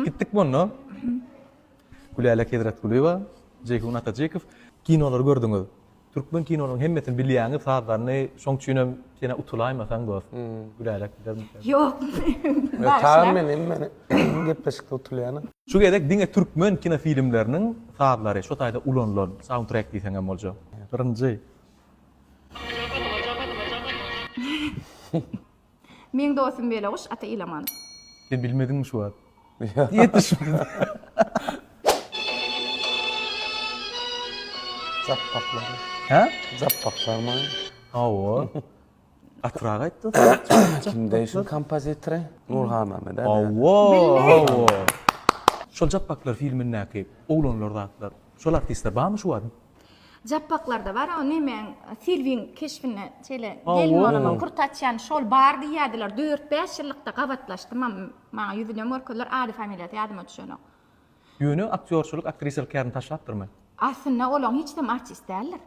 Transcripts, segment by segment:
Gitdik munda. Gülälek Hezretgulyýewa, Jeýhun Atajykow. Kinolary gördüňiz. Türkmen kinolarynyň hemmesini bilýäňiz, sazlaryny, şoň üçinem senä utulaýmasaň dost. Gülälek bilermikä? Ýok. Bagşyna. Men hemmeni gepleşikde utulýan. Şu gezek diňe türkmen kinofilmleriniň sazlary, şo taýda ulanylan, soundtrack diýseň hem boljak. Birinji. Meň dostum Beleguş ata Ilamanow. Sen bilmediňmi şu wagt? Ýetişmedi. Jap paklary. Hä? Jap paklarmyň? Hawa. Gatyrak aýt dostum. Kimde şu kompozitory? Nurhanamy da? Hawa. Hawa. Şol Jap paklary filmindäki oglanlar zatlar. Şol artistler barmy şu wagt? Japbaklarda bar o nemeň Silwiň keşbinde şeýle gelin bolanok kurt açýan şol bar diýýädiler dört bäş ýyllykda gabatlaşdymam maňa ýüzünem görkezdiler ady familiýasy ýadyma düşenok. Ýöne aktýorçylyk aktrisalyk kärini taşlapdyrmy? Aslynda olaň hiç zam artist däldir.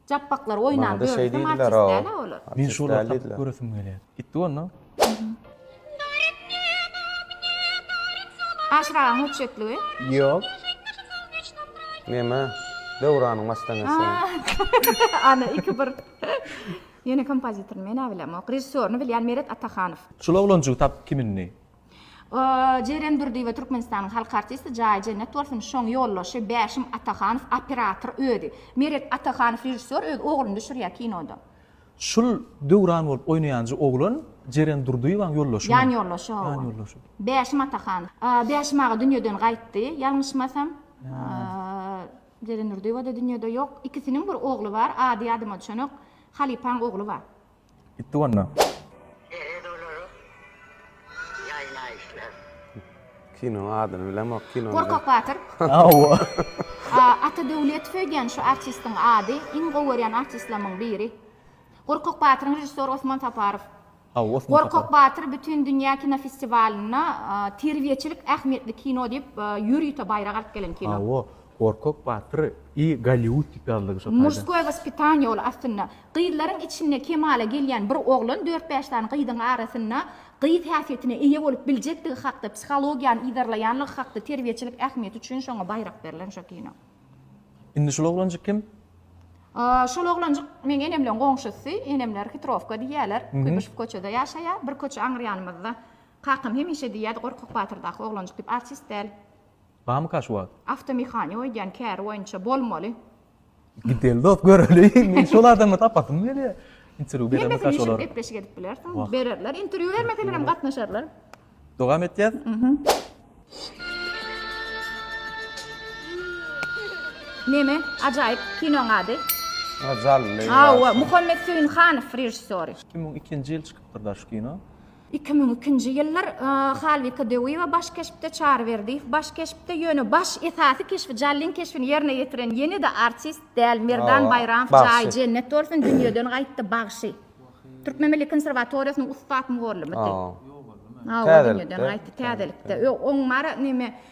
Japbaklar oýnan görnüşde maçist däl-ä olar. Men şolary tapyp göresim gelýär. Gitdi onda. Aşyragyň hötjetligi? Ýok. Neme? Döwranyň mastanesi. Ana iki bir. Ýöne kompozitoryny men-ä bilemok. Režissýoryny bilýän Meret Atahanow. Şul oglanjygy tapyp kimin-di? Jeren Durdyýewa Türkmenistanyň halk artisti jaýy jennet bolsun şoň ýoldaşy Bäşim Atahanow operator özi. Meret Atahanow režissýor öz ogluny düşürýär kinoda. Şul Döwran bolup oýnaýanja oglan Jeren Durdyýewaň ýoldaşy Ýan ýoldaşy hawa. Ýan ýoldaşy. Bäşim Atahanow. Bäşim aga dünýeden gaýtdy ýalňyşmasam. Jeren Durdyýewa-da dünýede ýok. Ikisiniň bir ogly bar ady ýadyma düşenok. Halypaň ogly bar. Gitdi wanda. Herez olara ýaýnaýyşlar. Kinoň adyny bilemok kinony. Gorkak batyr. Hawa. Ata Döwletow öýdýän şu artistiň ady iň gowy görýän artistlamyň biri. Gorkak batyryň režissýory Osman Saparow. Hawa Osman Saparow. Gorkak batyr bütin dünýä kino festiwalynda terbiýeçilik ähmiýetli kino diýip ýür ýüte baýrak alyp gelen kino. Hawa Gorkak batyr i Golliwud diýip ýazylygy şo taýda. Murskoýe waspitaniýe ol aslynda. Gyzlaryň içinde kemala gelýän bir oglan dört-bäş sany gyzyň arasynda gyz häsiýetine eýe bolup biljekdigi hakda psihologiýany yzarlaýanlygy hakda terbiýeçilik ähmiýeti üçin şoňa baýrak berlen şo kino. Indi şul oglanjyk kim? Şol oglanjyk meň enemleň goňşusy, enemler Hitrowka diýýäler, Kuýbyşew köçede ýaşaýar, bir köçe aňyrýanymyzda. Kakam hemişe diýýärdi Gorkak batyrdaky oglanjyk diýip, artist däl. Barmy kaş wagt. Awtomehaniýa öýdýän käri boýunça bolmaly. Gideli dos göreli men şol adamy tapasym gelýär. Interwýu beremmi kaş olar. Gepleşik edip bilersiň. Bererler interwýu bermeseler hem gatnaşarlar. Dogam etýäs. Neme ajaýyp kinoň ady? Jally. Hawa Muhammet Söýünhanow režissýory. 2002-nji ýyl çykypdyr da şu kino. Iki müň ikinji ýyllar Halbike Döwýewa baş keşpde, Çary Berdiýew baş keşpde, ýöne baş esasy keşbi, Jallyn keşbini ýerine ýetiren ýene-de artist däl, Merdan Baýramow jaýy jennet bolsun, dünýeden gaýtdy, bagşy. Türkmen milli konserwatoriýasynyň ussat mugallymydy. Hawa, dünýeden gaýtdy, täzelikde. Ýok, oň bary neme,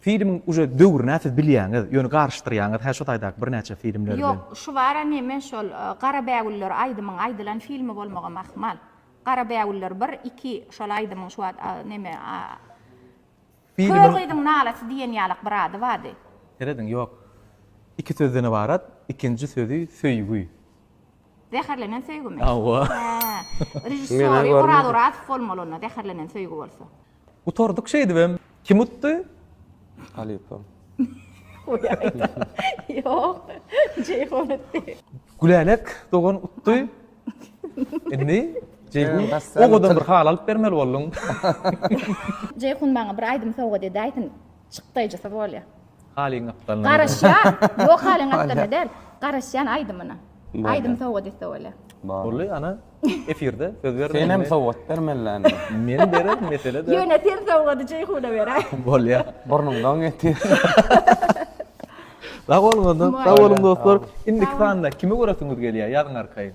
Filmiň uje döwrüne siz bilýäňiz, ýöne garyşdyrýaňyz hä şu taýdaky birnäçe filmler bilen. Ýok, şu baram hemen şol Gara bägüller aýdymyň aýdylan filmi bolmagam ahmal. Gara bägüller bir, iki şol aýdymyň şu wagt neme Kör gyzyň nalasy diýen ýalak bir ady bardy. Serediň, ýok. Iki sözden ybarat, ikinji sözi söýgi. Zäherlenen söýgimi? Hawa. Režissýory Oraz Orazow bolmaly onda Zäherlenen söýgi bolsa. Gutardyk şeýdibem. Kim utdy? Halypam. Ýok. Jeýhun utdy. Gülälek dogan utdy. Indi Jeýhun owadan bir haly alyp bermeli bolduň. Jeýhun maňa bir aýdym sowgat edäýsin. Çykdaýjysy bolýa. Halyň gapdalyna. Garaşýan. Ýok halyň gapdalyna däl. Garaşýan aýdymyna. Aýdym sowgat etse bolýa. Boldy ana. Efirde söz berme. Senem sowgat ber mellände. Men berer mesele däl. Ýöne sen sowgady Jeýhuna ber. Bolýa. Burnuňdan getir. Sag boluň onda. Sag boluň dostlar. Indiki sanda kimi göresiňiz gelýär ýazyň arkaýyn.